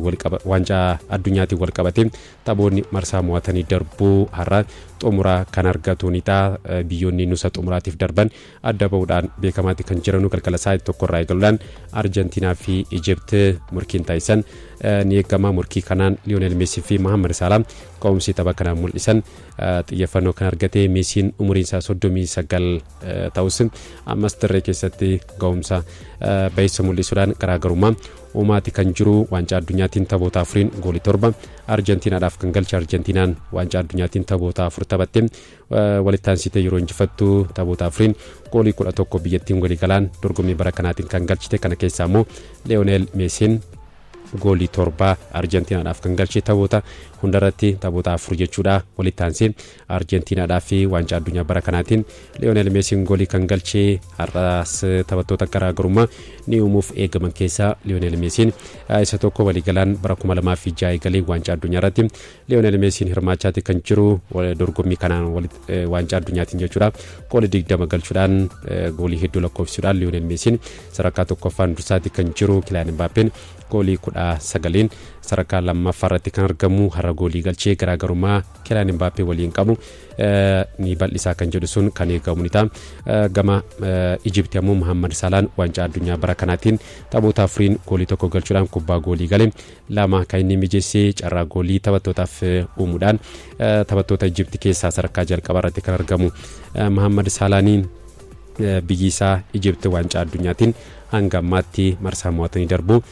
Waancaa addunyaatiin walqabatee taphoonni marsaa mo'atanii darbuu har'a xumura kan argatu ni ta'a. Biyyoonni nusa xumuraatiif darban adda ba'uudhaan beekamaatti kan jiranu galgala sa'aatii tokkorraa eegaluudhaan Arjentiinaa fi Ijipt morkiin taasisan ni eegama. Morkii kanaan Liyoonel Meesii fi Mahammad Saalaa ka'umsi tapha kanaan mul'isan xiyyeeffannoo kan argate Meesiin umuriin isaa 39 ta'us ammas dirree keessatti ga'umsa baay'isa mul'isuudhaan garaagarummaa Uumaati kan jiru Waancaa Addunyaatiin taphoota afuriin goolii torba Arjentiinaadhaaf kan galche Arjentiinaan Waancaa Addunyaatiin taphoota afur taphatte walitti aansitee yeroo injifattu taphoota afuriin goolii kudha tokko biyyattiin waliigalaan dorgommii bara kanaatiin kan galchite kana keessaa immoo Leonel Meesiin goolii torba Arjentiinaadhaaf kan galche taphoota hundarratti taphoota afur jechuudha walitti aansee Arjentiinaadhaaf waancaa addunyaa bara kanaatiin Liyoonel Meesiin goolii kan galche har'aas taphattoota garaagarummaa ni uumuuf eegaman keessaa Liyoonel Meesiin isa tokko waliigalaan bara 2006 eegalee waancaa addunyaa irratti Liyoonel Meesiin hirmaachaati kan jiru dorgommii kanaan waancaa addunyaatiin jechuudha goolii 20 galchuudhaan goolii hedduu lakkoofsisuudhaan Liyoonel Meesiin sadarkaa tokkoffaan dursaati kan jiru Kilaan Mbaappeen goolii 19n sadarkaa lammaffaa irratti kan argamu har'a goolii galchee garaagarummaa Kilaan Imbaappee waliin qabu ni bal'isaa kan jedhu sun kan eegamu ni ta'a. Gama Ijipti ammoo Muhammad Salaan waancaa addunyaa bara kanaatiin taphoota afuriin goolii tokko galchuudhaan kubbaa goolii gale lama kan inni mijeessee carraa goolii taphattootaaf uumuudhaan taphattoota Ijipti keessaa sadarkaa jalqabaa irratti kan argamu Muhammad Saalaanii biyyi isaa Ijipti waancaa addunyaatiin hanga ammaatti marsaa mo'atanii darbu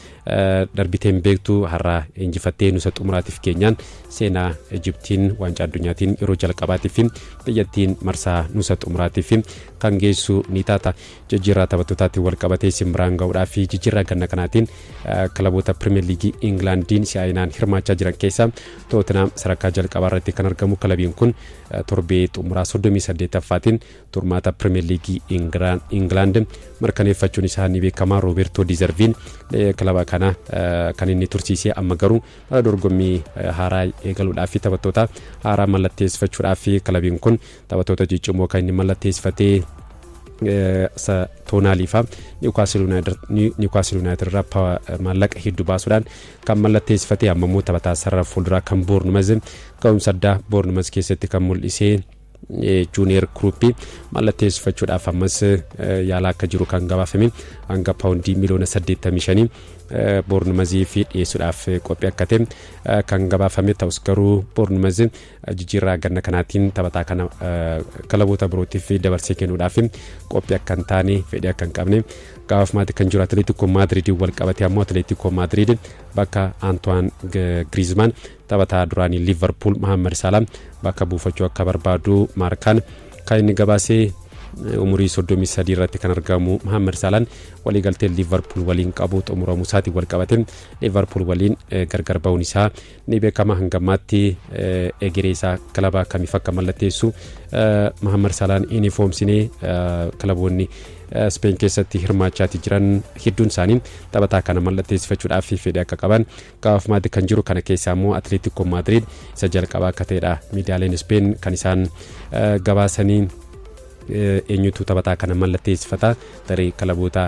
Darbitee hin beektu har'a injifattee nusa xumuraatiif keenyaan seenaa Ijiptiin waancaa addunyaatiin yeroo jalqabaatiif biyyattiin marsaa nusa xumuraatiif kan geessu ni taata. Jijjiirraa taphattootaatiin wal qabatee isin biraan ga'uudhaa fi jijjiirraa ganna kanaatiin kilaboota Pirimeer Liigii Ingilaandiin si'aayinaan hirmaachaa jiran keessaa Tootenaam sadarkaa jalqabaa irratti kan argamu kilabiin kun torbee xumuraa 38ffaatiin turmaata Pirimeer Liigii Ingilaand mirkaneeffachuun isaa ni beekama. Roobertoo Dizarviin kilaba kana kan inni tursiisee amma garuu bara dorgommii haaraa eegaluudhaaf fi taphattoota haaraa mallatteessifachuudhaaf fi kilabiin kun taphattoota ciccimoo kan inni mallatteessifatee Toonaalii fa'aa Niwukaastil Yuunaayitid irraa maallaqa hedduu baasuudhaan kan mallatteessifatee amma immoo taphataa sarara fuulduraa kan Boornumaz ga'umsa addaa Boornumaz keessatti kan mul'isee juuniyer kiruuppii mallatteessifachuudhaaf ammas yaalaa akka jiru kan gabaafame hanga paawundii miliyoona 85 boornumaziif dhiyeessuudhaaf qophii akka ta'e kan gabaafame ta'us garuu boornumaz jijjiirraa ganna kanaatiin taphataa kana kilaboota birootiif dabarsee kennuudhaaf qophii akka hin taane fedhii akka hin qabne gabaafamaatti kan jiru atileetikoo maadiriidiin wal qabate ammoo atileetikoo maadiriid bakka antoine griezmann Taphataa duraanii Liivarpuul Mohaammed Saalaa bakka buufachuu akka barbaadu Maarkaan kan inni gabaasee umurii 33 irratti kan argamu Mohaammed Saalaan waliigalteen Liivarpuul waliin qabu xumuramuu isaatiin wal qabate Liivarpuul waliin gargar ba'uun isaa ni beekama hanga ammaatti egeree isaa kilabaa kamiif akka mallatteessu Mohaammed Saalaan hin ifoomsine kilaboonni Speen keessatti hirmaachaa jiran hedduun isaanii taphataa kana mallatteessifachuudhaaf fedhii akka qaban Kaaf maaddi kan jiru kana keessaa immoo Atleetikkoo Maadriid isa jalqabaa akka ta'edha. Miidiyaaleen Ispeen kan isaan gabaasanii eenyutu taphataa kana mallatteessifata tarii kilaboota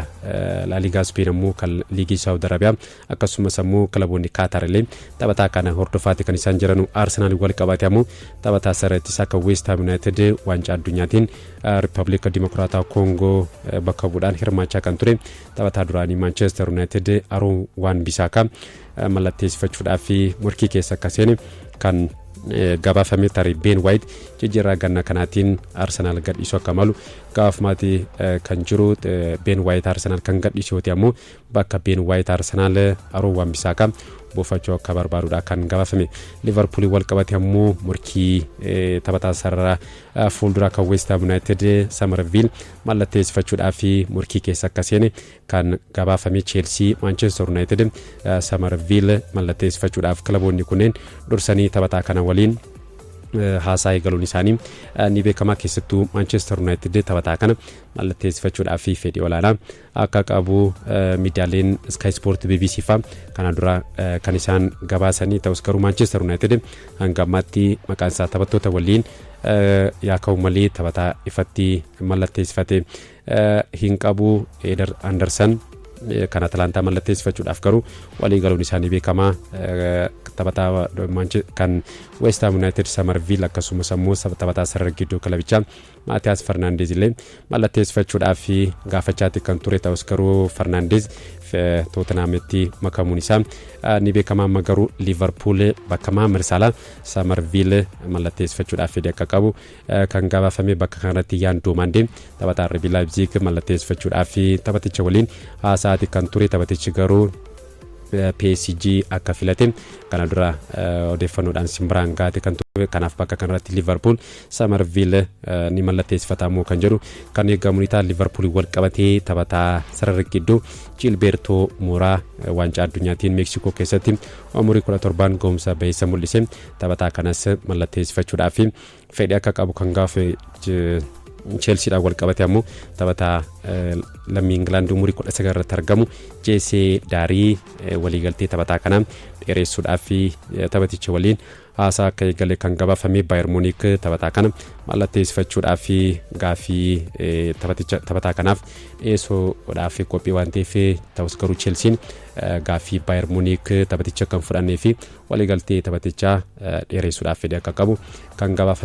laaligaa Ispeen ammoo kan liigii Saawud Arabiyaa akkasumas ammoo kilaboonni Kaataar illee taphataa kana hordofaati kan isaan jiranu Arsenaal wal qabaate ammoo taphataa sarara ittisaa kan Weest Haam Yuunaayitid waancaa addunyaatiin Riippaabilika Dimokiraataa Koongoo bakka bu'uudhaan hirmaachaa kan ture Taphataa duraanii Maanchester Yuunaayitid Aruun Waan Bisaakaa mallatteessifachuudhaaf morkii keessa akka seene kan gabaafame tarii Been Waayit jijjiirraa ganna kanaatiin Arsenaal gadhiisuu akka malu gabaafamaati kan jiru Been Waayit Arsenaal kan gadhiisu yoo ta'e ammoo bakka Been Waayit Arsenaal Aruun Waan Bisaakaa buufachuu akka barbaadudha kan gabaafame liverpuulii wal qabate ammoo morkii taphataa sarara fuulduraa kan weestaam yuunaayitid samarviil mallatteessifachuudhaaf morkii keessa akka seene kan gabaafame Cheelsii, Maanchester Yunaayitid, Samarviil mallatteessifachuudhaaf kilaboonni kunneen dursanii taphataa kana waliin haasaa eegaluun isaanii ni beekama keessattuu Maanchester Yunaayitid taphataa kana mallatteessifachuudhaaf fedhii olaanaa akka qabu miidiyaaleen Sky Sport BBC faa kana dura kan isaan gabaasanii ta'us garuu Manchester United hanga ammaatti maqaan isaa taphattoota waliin yaa ka'u malee taphataa ifatti mallatteessifate hin qabu Eder Anderson kan Atalantaa mallatteessifachuudhaaf garuu walii galuun isaanii beekamaa taphataa kan West Ham United Samarviil akkasumas ammoo taphataa sarara gidduu kilabichaa Maatiyaas Fernaandeez illee mallatteessifachuudhaaf gaafachaatti kan ture ta'us garuu Fernaandeez Tootenhaamitti makamuun isaa ni beekama amma garuu Liivarpuul bakka Maamer Saalaa Samarviil mallatteessifachuudhaaf fedhii akka qabu kan gabaafame bakka kanarratti Yaan Doomaandee taphataa RB Laayipziig mallatteessifachuudhaaf taphaticha waliin haasa'aati kan ture taphatichi garuu PSG akka filate kana dura odeeffannoodhaan simbiraan gaate kan ture kanaaf bakka kanarratti Liivarpuul Samarviile ni mallatteessifataa moo kan jedhu kan eegamu ni ta'a. Liverpool wal qabatee taphataa sararri gidduu Ciilbeertoo Mooraa waancaa addunyaatiin Meeksikoo keessatti umurii 17 gahumsa baheessa mul'ise. Taphataa kanas mallatteessifachuudhaaf fedhii akka qabu kan gaafe Cheelsiidhaan wal qabate ammoo taphataa lammii Ingilaand umurii 19 irratti argamu Jeesee Daarii waliigaltee taphataa kanaa dheeressuudhaaf taphaticha waliin haasaa akka eegale kan gabaafame Baayer Muuniik taphataa kana mallatteessifachuudhaaf fi gaaffii taphaticha taphataa kanaaf dhiyeessuudhaaf qophii waan ta'eef ta'us garuu Chelsiin gaaffii Baayer Muuniik taphaticha kan fudhannee fi waliigaltee taphatichaa dheeressuudhaaf fedhii akka qabu kan gabaafame.